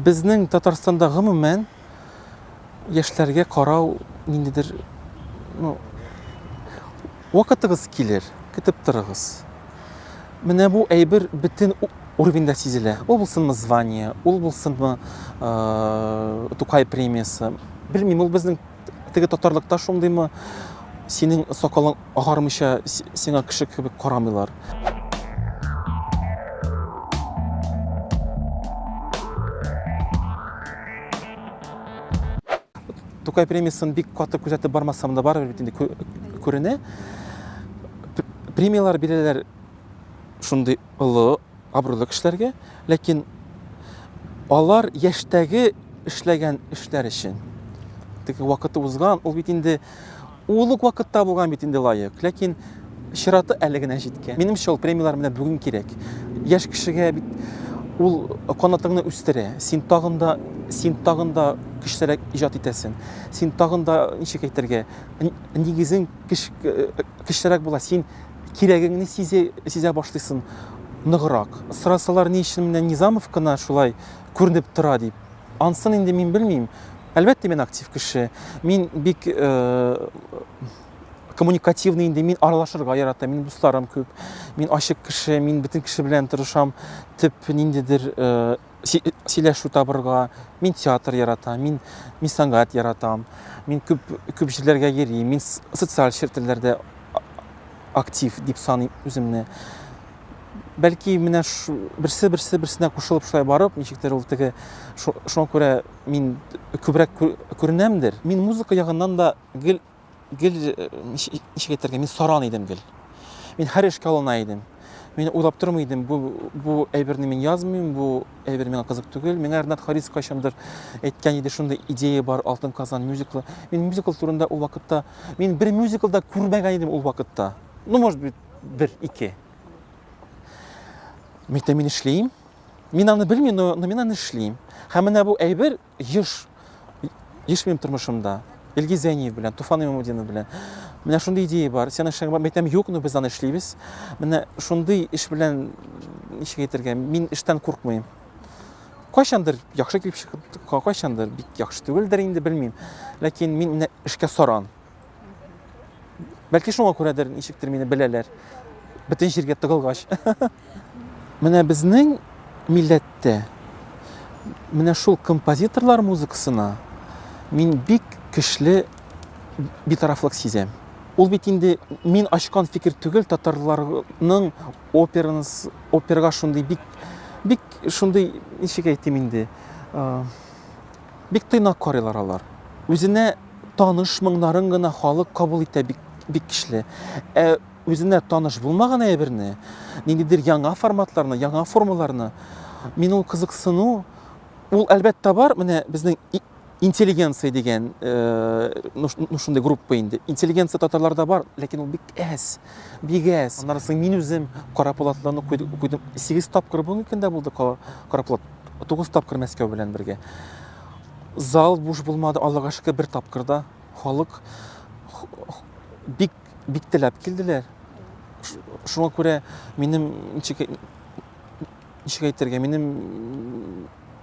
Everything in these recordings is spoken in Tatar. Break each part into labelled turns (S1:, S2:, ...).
S1: Безнең Татарстанда гомумән яшьләргә карау ниндидер ну, вакытыгыз килер, көтеп торыгыз. Менә бу әйбер бөтен уровеньда сизелә. Ул булсынмы звание, ул булсынмы э, Тукай премиясе. Белмим, ул безнең Теге татарлыкта шундыймы? Синең сакалың агармыйча сиңа кеше кебек карамыйлар. Тукай премиясын бик каты күзәтеп бармасам да барыбер бит инде күренә. Премияләр бирәләр шундый олы абруйлы кешеләргә, ләкин алар яшьтәге эшләгән эшләр өчен. Теге вакыты узган, ул бит инде ул ук вакытта булган бит инде лаек. Ләкин чираты әле генә җиткән. Минемчә, ул премияләр менә бүген кирәк. Яшь кешегә бит ул канатыңны үстерә. Син тагын да син тагын да көчлерәк иҗат итәсең. Син тагын да ничек әйтергә, нигезең көчлерәк була. Син кирәгеңне сизе, сизә башлыйсын ныграк. Сорасалар, ни өчен менә Низамов кына шулай күренеп тора дип. Ансын инде мин белмим. Әлбәттә, мин актив кеше. Мин бик э, коммуникативный инде, мин аралашырга яратам, мин дусларым күп. Мин ачык кеше, мин бөтен кеше белән тырышам. Төп ниндидер э, сөйләшү табырга, мин театр яратам, мин, мин сәнгать яратам, мин күп, күп җирләргә йөрим, мин социаль челтәрләрдә актив дип саныйм үземне. Бәлки менә берсе берсе берсенә кушылып шулай барып, ничектер ул теге шуңа күрә мин күбрәк күренәмдер. Мин музыка ягыннан да гел Гел ничек әйтергә, мин саран идем гел. Мин һәр эшкә алына идем. Мин уйлап тормый идем, бу бу әйберне мин язмыйм, бу әйбер миңа кызык түгел. Миңа Ренат Харис кайчандыр әйткән иде, шундый идея бар, Алтын Казан мюзиклы. Мин мюзикл турында ул вакытта, мин бер мюзикл да күрмәгән идем ул вакытта. Ну, может быть, бер, ике. Мин мин эшлим. Мин аны белмим, но, но мин аны эшлим. Һәм менә бу әйбер Еш, еш минем тормышымда. Илгиз Зәйниев белән, Туфан Имамудинов белән. Менә шундый идея бар. Сен эшләгән бар. Мәйтәм, юк, но без аны эшлибез. Менә шундый эш белән, ничек әйтергә, мин эштән куркмыйм. Кайчандыр яхшы килеп чыгып, кайчандыр бик яхшы түгелдер инде, белмим. Ләкин мин менә эшкә саран. Бәлки шуңа күрәдер, ничектер мине беләләр. Бөтен җиргә тыгылгач. Менә безнең милләттә менә шул композиторлар музыкасына мин бик көчле битарафлык сизәм. Ул бит инде мин ачкан фикер түгел, татарларның операнс оперга шундый бик бик шундый ничек әйтим инде, Бик тыйнак карыйлар алар. Үзенә таныш моңнарын гына халык кабул итә бик, бик кичле. Ә үзенә таныш булмаган әйберне, ниндидер яңа форматларны, яңа формаларны, мин ул кызыксыну, ул әлбәттә бар, менә безнең интеллигенция дигән ну ну шундый группа инде интеллигенция татарларда бар ләкин ул бик әз бик әз аннан соң мин үзем кара полатларны куйдым сигез тапкыр бүгенге көндә булды кара полат Тугыз тапкыр Мәскәү белән бергә. Зал буш булмады, Аллага шөкер, бер тапкырда халык бик бик теләп килделәр. Шуңа күрә минем ничек ничек әйтергә, минем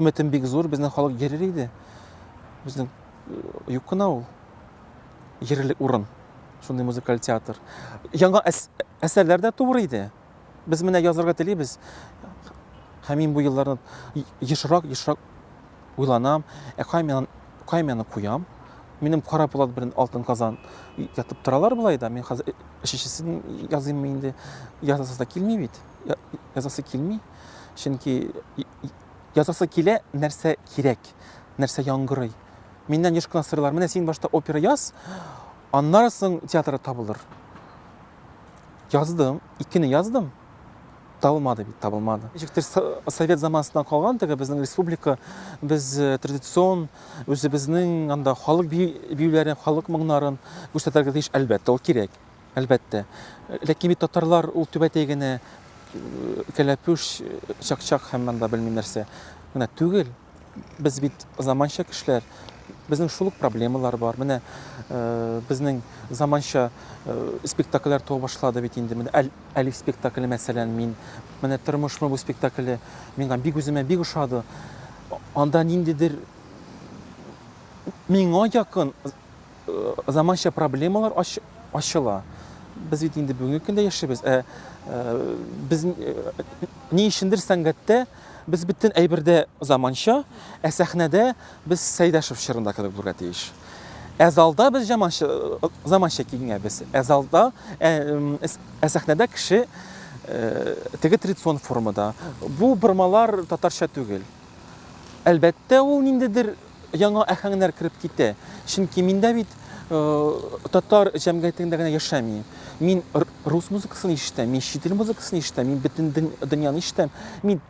S1: өметем бик зур, безнең халык йөрер иде. Безнең э, юк кына ул йөрерлек урын, шундый музыкаль театр. Яңа әсәрләр дә туыр иде. Без менә язырга телибез, һәм мин бу елларны ешрак, ешрак уйланам, ә каймияны, каймияны куям. Минем кара пулат белән алтын казан ятып торалар болай да. Мин хәзер өченчесен языйм инде. Язасы да килми бит. Язасы килми. Чөнки язасы килә, нәрсә кирәк, нәрсә яңгырый. Миннән еш кына сорыйлар, менә син башта опера яз, аннары соң театр табылыр. Яздым, икене яздым. Табылмады бит, табылмады. Ничектер совет заманасыннан калган теге безнең республика, без э, традицион үзебезнең анда халык биюләрен, халык моңнарын күрсәтергә тиеш, әлбәттә, ул кирәк. Әлбәттә. Ләкин бит татарлар ул түбәтәй генә э, кәләпүш, э, чакчак һәм монда белмим нәрсә генә түгел. Без бит заманча кешеләр, безнең шул ук проблемалар бар. Менә безнең заманча спектакльләр туа башлады бит инде. Менә Әлиф спектакле, мәсәлән, мин менә тормышмы бу спектакле миңа бик үземә бик ошады. Анда ниндидер миңа якын заманча проблемалар ачыла. Без бит инде бүгенге көндә яшибез. Ә без ни өчендер сәнгатьтә Без бөтен әйбердә заманча, ә сәхнәдә без Сәйдәшев чорында кебек булырга тиеш. Ә залда без заманча, заманча киенгәнбез. Ә залда, ә, ә сәхнәдә кеше э, теге традицион формада. Бу бормалар татарча түгел. Әлбәттә, ул ниндидер яңа әһәңнәр кереп китә. Чөнки мин дә бит татар җәмгыятендә генә яшәмим. Мин рус музыкасын ишетәм, мин чит ил музыкасын ишетәм, мин бөтен дөньяны ишетәм. Мин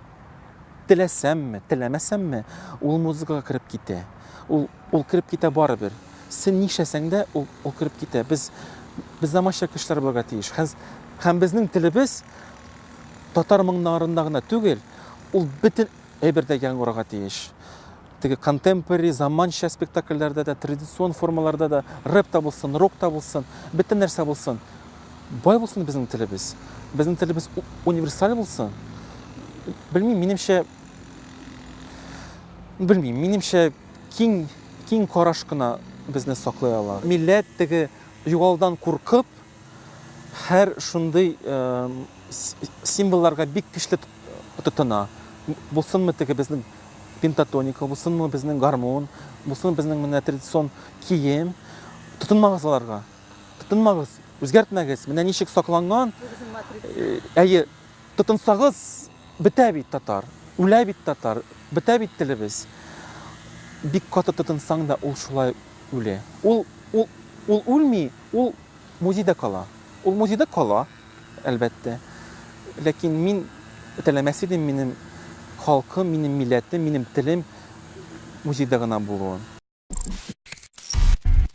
S1: теләсәмме, теләмәсәмме, ул музыкага кереп китә. Ул ул кереп китә барыбер. Син нишләсәң дә, ул, ул кереп китә. Без без заманча кешеләр булырга тиеш. Һәм безнең телебез татар моңнарында гына түгел, ул бөтен әйбердә яңгырарга тиеш. Теге контемпори, заманча спектакльләрдә дә, традицион формаларда да, рэп та булсын, рок та булсын, бөтен нәрсә булсын. Бай булсын безнең телебез. Безнең телебез универсаль булсын. Белмим, минемчә белмим, минемчә киң киң караш кына безне саклый ала. Милләт теге югалдан куркып, һәр шундый символларга бик көчле тотына. Булсынмы теге безнең пентатоника, бусынмы безнең гармун, бусынмы безнең менә традицион кием. Тотынмагыз аларга. Тотынмагыз, үзгәртмәгез. Менә ничек сакланган. Э, әйе, тотынсагыз, бетә бит татар, үлә бит татар, бетә бит телебез. Бик каты тотынсаң да ул шулай үлә. Ул ул ул үлми, ул музейда кала. Ул музейда кала. әлбәттә. Ләкин мин теләмәс идем минем халкым, минем милләтем, минем телем музейда гына булуын.